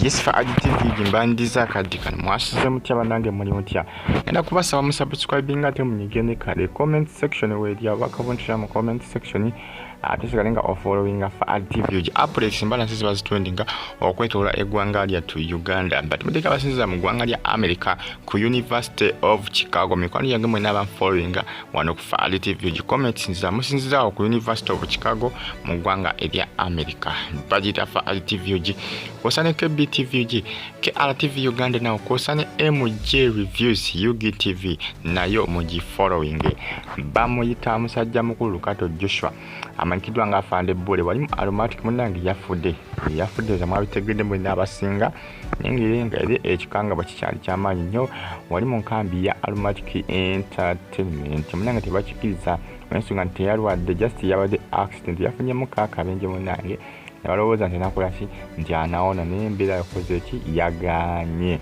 Yes for Adi TV gimbandiza akaddi kano mwasuze mutya banange muli mutya enda kubasaba musubscribinga ate munyige ne kale comment section weerya wakavuntira mu comment section ate sigale nga ofollowinga faad tv ogi updates mbala nsi ziba zitundinga okwetoola eggwanga lyattu uganda but muteeka abasinziza mu ggwanga lya america ku university of chicago mikwano gyange mwena abanfollowinga wano ku faad tv ogi comment nziza musinzizawo ku university of chicago mu ggwanga erya america bagiyita faad tv ogi osaneko ebtv ogi KRTV Uganda nawo kwosa ne MJ Reviews UGTV nayo mugi following bamuyita musajja mukulu Kato Joshua amanyikiddwa nga afande bbule wali mu aromatic munnange yafudde yafudde za mwabitegedde mulina abasinga nengeri nga eri ekikanga bakikyali kyamaanyi nnyo wali mu nkambi ya aromatic entertainment munnange tebakikiriza ensonga nti teyalwadde just yabadde accident yafunyemu kaakabenje munnange nebalowooza nti nakolaki nti anawona naye embeera yakoze ki yaganye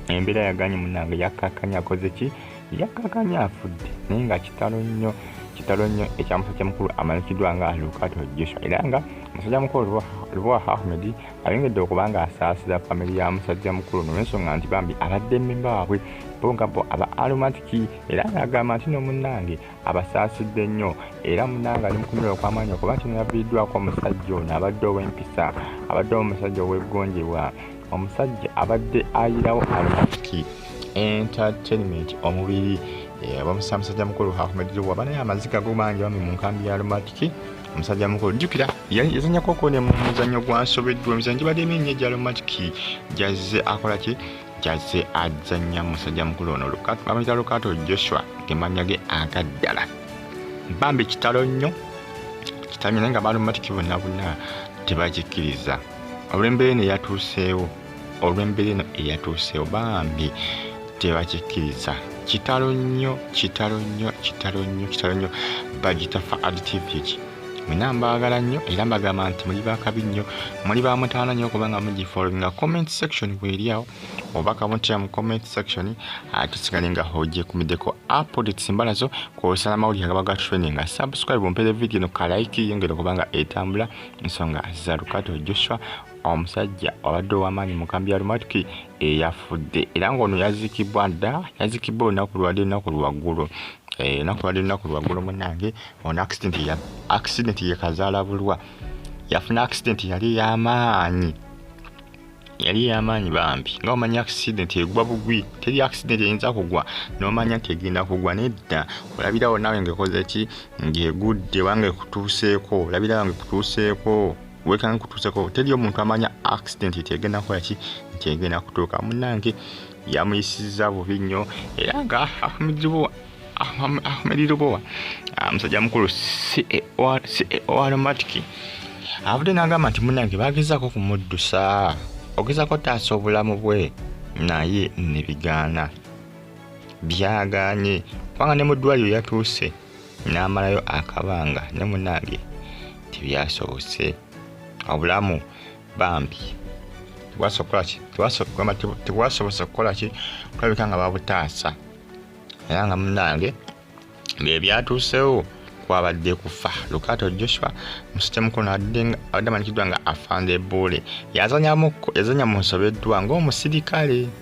embeera yaganye munange yakakanya akoze ki yakakanya afudde naye nga kitalo nnyo kitalo nnyo ekyamusajja mukulu amanyikiddwa nga lukato joshua era nga musajja mukulu lubwa ahmed ayongedde okuba nga asaasira famiry ya musajja mukulu nolwensonga nti bambi abadde mmemba waabwe bo nga bo aba aromatiki era nga agamba nti nomunnange abasaasidde nnyo era munanga ali mukunyula okwamaanyi okuba kino yaviiriddwako omusajja ono abadde ow'empisa abadde omusajja ow'eggonjebwa omusajja abadde ayirawo alumaki entertainment omubiri eh, bamusa musajja mukulu ahmedjowa banaye amaziga go mangi bami mu nkambi ya lumatiki omusajja mukulu jjukira yazanyako okone mu muzannyo gwansobeddwa emizanyo gibadde mingi egya lumatiki gyazze akola ki kyazze azannya musajja mukulu ono bamuyita lukato joshua gemanya ge agaddala bambi kitalo nnyo kitamye naye nga balumatiki bonna bonna tebakikkiriza olw'embeera eno eyatuuseewo olw'embeera eno eyatuuseewo bambi tebakikkiriza kitalo nnyo kitalo nnyo kitalo nnyo kitalo nnyo bagitafa adtivity mwena mbaagala nnyo era mbagamba nti muli bakabi nnyo muli ba mutaana nnyo kubanga mugifollowinga comment section bweri awo oba kamutya mu comment section atusigale nga hojekumideko updates mbala zo kwosala amawulire agaba ga training nga subscribe ompere video no kalaiki yongere kubanga etambula nsonga za lukato joshua omusajja obadde ow'amaanyi mu kambi ya lumatuki eyafudde era ng'ono yaziikibwa dda yaziikibwa olunaku lwali olunaku lwaggulu Eh, enaku badde lunaku lwaggulo munange ono accident ye kazaala bulwa yafuna accident yali eyamaanyi yali eyamaanyi bambi nga omanya accident egwa bugwi teri accident eyinza kugwa nomanya nti egenda kugwa nedda olabirawo nawe ngaekoze ki ngaegudde wanga ekutuuseeko olabirawo nga ekutuuseeko wekanga kutuuseko teri omuntu amanya accident nti egenda kukola ki nti egenda kutuuka munange yamuyisizza bubi nnyo era nga ahmedlubowa ahmedlubowa ah, musajja mukulu caoaromatic e avudde n'agamba nti munange bagezaako okumuddusa ogezaako taasa obulamu bwe naye nebigaana byagaanye kubanga ne mu ddwaliro yatuuse n'amalayo akabanga ne munange tebyasobose obulamu bambi tewasokolaki tewasobose okukolaki kulabika nga babutaasa era nga munange byebyatuusewo kwabadde kufa lukato joshua musitemukono abadde amanyikiddwa nga afande buule yazanyamu yazanya mu nsobeddwa ng'omusirikale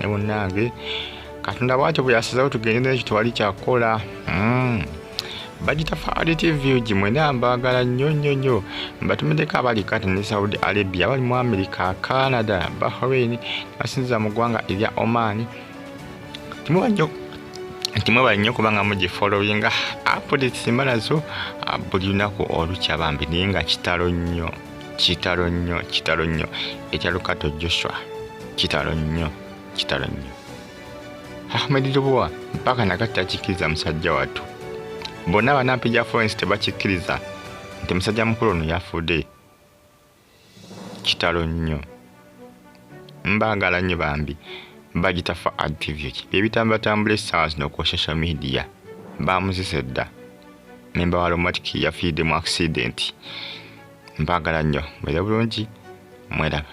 ne munnange katonda bwatyo bwe yasizawo tugende nekyo tewali kyakukola mm. bagita faali tv gi mwena mbaagala nnyo nnyo nnyo mbatumiddeko abali kati ne saudi arabia abali mu america canada bahrain basinziza mu ggwanga erya oman timuba nnyo nti mwebale nnyo kubanga mugifolowinga apuditisi mbalazo ah, buli lunaku olukya bambi naye nga kitalo nnyo kitalo nnyo kitalo nnyo ekya lukato joshua kitalo nnyo kitalo nnyo ahmed lubuwa mpaka nakati akikkiriza musajja wattu bonna banampi gya florence tebakikkiriza nti musajja mukulu ono yafudde kitalo nnyo mbaagala nnyo bambi bagita fa activit byebitambatambula essaawa zino ku social media baamuzisa edda memba wa lomatic yafiidde mu accident mbaagala nnyo mwere bulungi mweraba